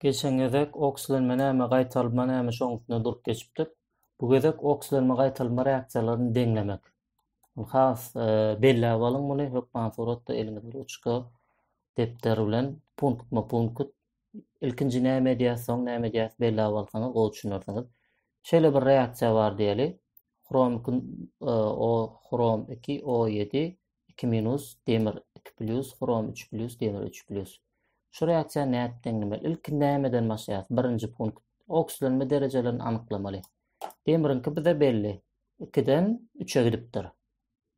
Geçen gezek oksilenme näme, gaýtalma näme şoň üstünde durup geçipdik. Bu gezek oksilenme gaýtalma reaksiýalaryny deňlemek. Has e, belläp alyň muny hökman suratda eliňiz ruçka depder bilen punktma punkt ilkinji näme edýär, soň näme edýär belläp alsaňyz gowy düşünersiňiz. Şeýle bir reaksiýa bar diýeli. Hrom 2 e, o hrom 2 O7 iki minus, demir iki plýus, hrom üç plýus, demir üç plýus. Şu reaksiýa nädip deňlemeli? Ilki nämeden başlaýas? Birinji punkt. Oksilenme derejelerini anyklamaly. Demiriňki bize belli. Ikiden üçe gidipdir.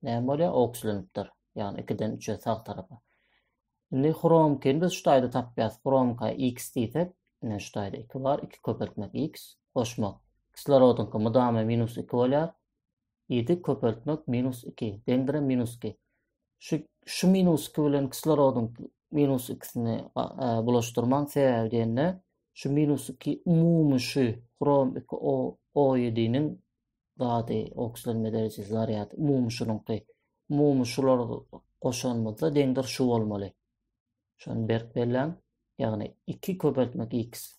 Näme bolýar? Oksilenipdir. Ýagny ikiden üçe sag tarapa. Indi hromkini biz şu taýda tapýas. Hromka x diýsek, ine şu taýda 2 bar. 2 köpeltmek x, goşmak. Kislorodyňky mydama minus 2 bolýar. Ýedi köpeltmek minus iki, deňdir minus iki. Şu, şu minus iki bilen kislorodyň minus ikisini bulaşdyrmaň sebäbi diýende, şu minus iki umumy şu hrom iki o, o ýediniň zady, okslenme derejesi, zarýady, umumy şunuňky. Umumy şular goşanymyzda deňdir şu bolmaly. Şony berk belläň. Ýagny iki köpeltmek x.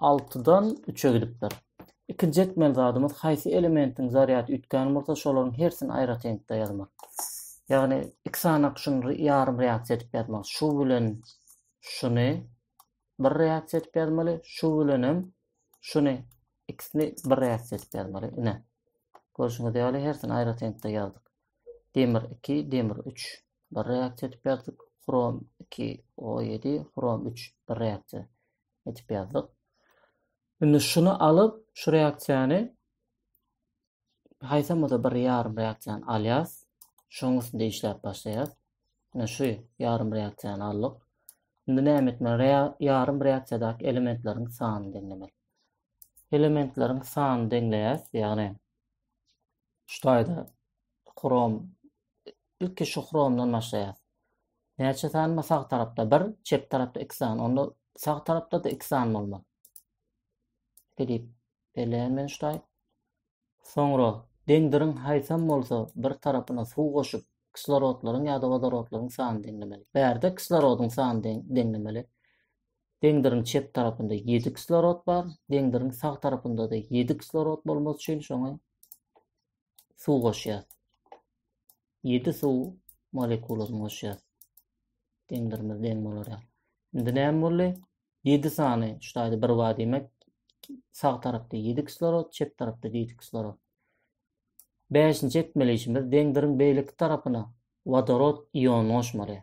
altydan üçe gidipdir. Ikinji etmeli zadymyz haýsy elementiň zarýady üýtgän bolsa, şolaryň hersini aýratynlykda ýazmak. Ýagny iki sanak şuny ýarym reaksiýa edip ýazmak. Şu bilen şuny bir reaksiýa edip ýazmaly, şu bilen hem şuny ikisini bir reaksiýa edip ýazmaly. Ine. Görşüňiz ýaly hersini aýratynlykda ýazdyk. Demir iki, demir üç. Bir reaksiýa edip ýazdyk. Hrom iki, o ýedi, hrom üç. Bir reaksiýa edip ýazdyk. Indi şuny alyp, şu reaksiýany haýsamada bir ýarym reaksiýany alýas. Şoň üstünde işläp başlaýas. Indi şu ýarym reaksiýany aldyk. Indi näme etmeli? Rea ýarym reaksiýadaky elementleriň sanyny deňlemeli. Elementleriň sanyny deňleýäs, ýagny Şu taýda Chrome ilki şu Chrome'dan başlaýar. Näçe sany bar sag tarapda? 1, çep tarapda 2 sany. Onda sag tarapda-da 2 sany bolmaly. Gidip belleýän men şu taý. Soňra deňdiriň haýsam bolsa bir tarapyna suw goşup, kislorodlaryň ýa-da wodorodlaryň sanyny deňlemeli. Bärde kislorodyň sanyny deňlemeli. Deňdiriň çep tarapynda 7 kislorod bar, deňdiriň sag tarapynda-da 7 kislorod bolmaly üçin şoňa suw goşýas. 7 suw molekulasyny goşýas. Deňdirimiz deň bolar ýaly. Indi näme boldy? 7 sany şu taýda bir bar diýmek. Sag tarapda 7 kislorod, çep tarapda 7 kislorod. 5-nji etmeli işimiz deňdiriň beýleki tarapyna wodorod ionyny goşmaly.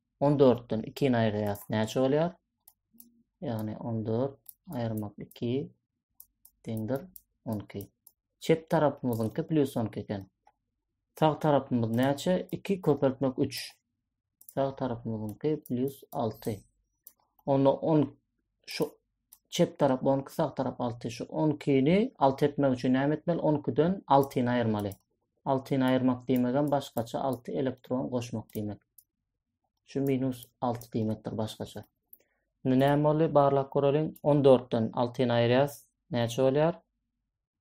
On dörtden ikini aýyrýas, näçe bolýar? Ýagny on dört aýyrmak iki deňdir on iki. Çep tarapymyzyňky plyus on iki eken. Sag tarapymyz näçe? Iki köpeltmek üç. Sag tarapymyzyňky plyus alty. Onda on şu çep tarap on iki, sag tarap alty. Şu on ikini alty etmek üçin näme etmeli? On ikiden altyny aýyrmaly. Altyny aýyrmak diýmegem başgaça alty elektron goşmak diýmek. Şu minus alty diýmekdir başgaça. Indi näme boldy? Barlap göreliň. On dörtden altyny aýyrýas. Näçe bolýar?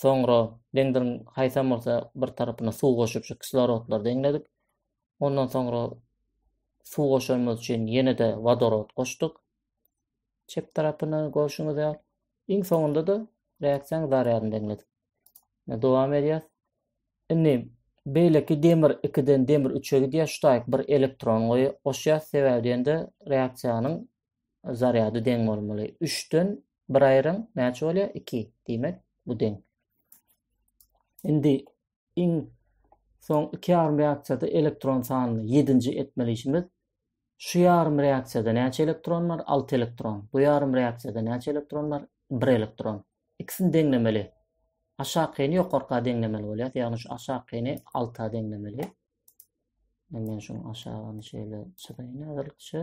Soňra bendiriň haýsam bolsa bir tarapyna suw goşup şu kislorodlary deňledik. Ondan soňra suw goşanymyz üçin ýene-de wodorod goşduk. Çep tarapyna görşüňiz ýaly. Iň soňunda da reaksiýanyň zarýadyny deňledik. Dowam edýär. Indi beýleki demir 2-den demir 3-e gidýär. Şu taýyk bir elektron goýýar. Goşýar sebäbi diýende reaksiýanyň zarýady deň bolmaly. 3-den 1 aýryň, näçe bolýar? 2. Diýmek, bu deň. Indi iň soň iki ýarym reaksiýada elektron sanyny 7-nji etmeli işimiz. Şu ýarym reaksiýada näçe elektron bar? 6 elektron. Bu ýarym reaksiýada näçe elektron bar? 1 elektron. İkisini deňlemeli. Aşakyny ýokarka deňlemeli bolýar. Ýagny şu aşakyny alta deňlemeli. Indi men şuň aşagyny şeýle çyzaýyn häzirlikçe.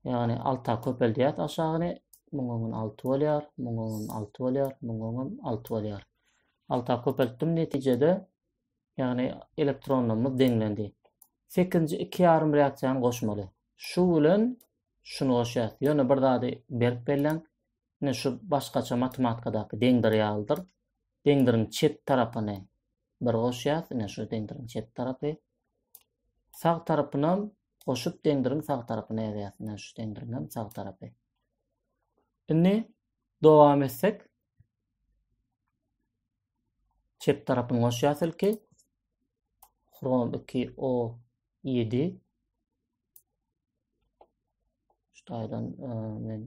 Ýagny alta köpeldýär aşagyny. Muň öňün 6 bolýar, muň öňün 6 bolýar, muň öňün 6 bolýar. Alta köpeltdim netijede ýagny elektronlarymyz deňlendi. 8-nji 2,5 reaksiýany goşmaly. Şu bilen şuny goşýar. Ýöne bir zady berip belläň. Ine şu başgaça matematikadaky deňdir ýalydyr. Deňdiriň çep tarapyny bir goşýas, ine şu deňdiriň çep tarapy. Sag tarapynam goşup deňdiriň sag tarapyny ýazýas, ine şu deňdiriň hem sag tarapy. Indi dowam etsek. Çep tarapyny goşýas ilki. Krom 2 o 7 Şu taýdan e, men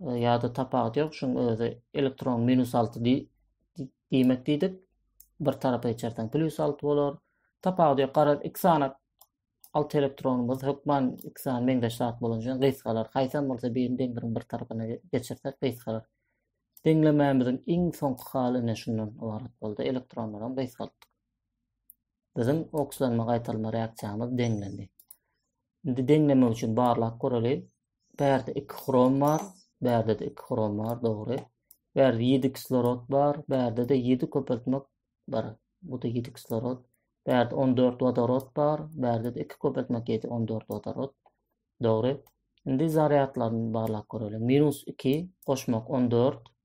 e, ýa-da tapawudy ýok, şuň özi elektron minus 6 diýmek diýdik. Bir tarapa geçersen plus 6 bolar. Tapawudy ýok, garaz iki sany 6 elektronumyz hökman iki sany meňzeş zat bolan üçin gysgalar. Haýsam bolsa birini deňligiň bir tarapyna geçirsek gysgalar. Deňlemämiziň iň soňky haly ine şundan ybarat boldy. Elektronlar hem gysgaltdyk. Biziň okslanma gaýtalma reaksiýamyz deňlendi. Indi deňlemek üçin barlap göreli. Bärde iki hrom bar, bärde de iki hrom bar, dogry. Bärde ýedi kislorod bar, bärde de ýedi köpeltmek bar. Bu da ýedi kislorod. Bärde on dört wodorod bar, bärde de iki köpeltmek ýedi, on dört wodorod. Dogry. Indi zarýadlaryny barlap görelim. Minus iki, goşmak on dört,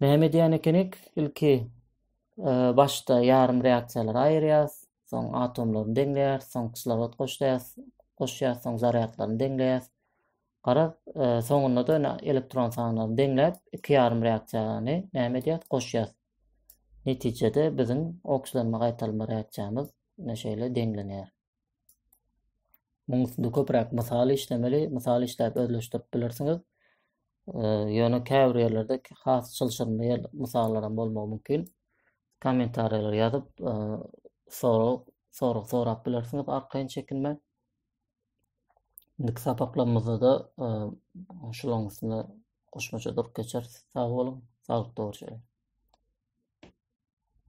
Näme edýän ekenik? Ilki e, başda ýarym reaksiýalary aýyrýas, soň atomlaryny deňleýäs, soň kislorod goşýas, goşýas, soň zarýadlaryny deňleýäs. Garaz, e, soňunda da ine elektron sanlaryny deňläp, iki ýarym reaksiýany näme edýäs? Goşýas. Netijede biziň okslenme gaýtalma reaksiýamyz ine şeýle deňlenýär. Muň üstünde köpräk mysal işlemeli, mysal işläp özleşdirip bilersiňiz. Ýöne käbir ýerlerde has çylşyrymly ýer mysallaram bolmagy mümkin. Kommentariýalar ýazyp, sorag, sorag sorap bilersiňiz arkaýyn çekinmän. Indiki sapaklarymyzda-da şularyň üstüne goşmaça durup geçeris. Sag boluň, saglyk dogry çykyň.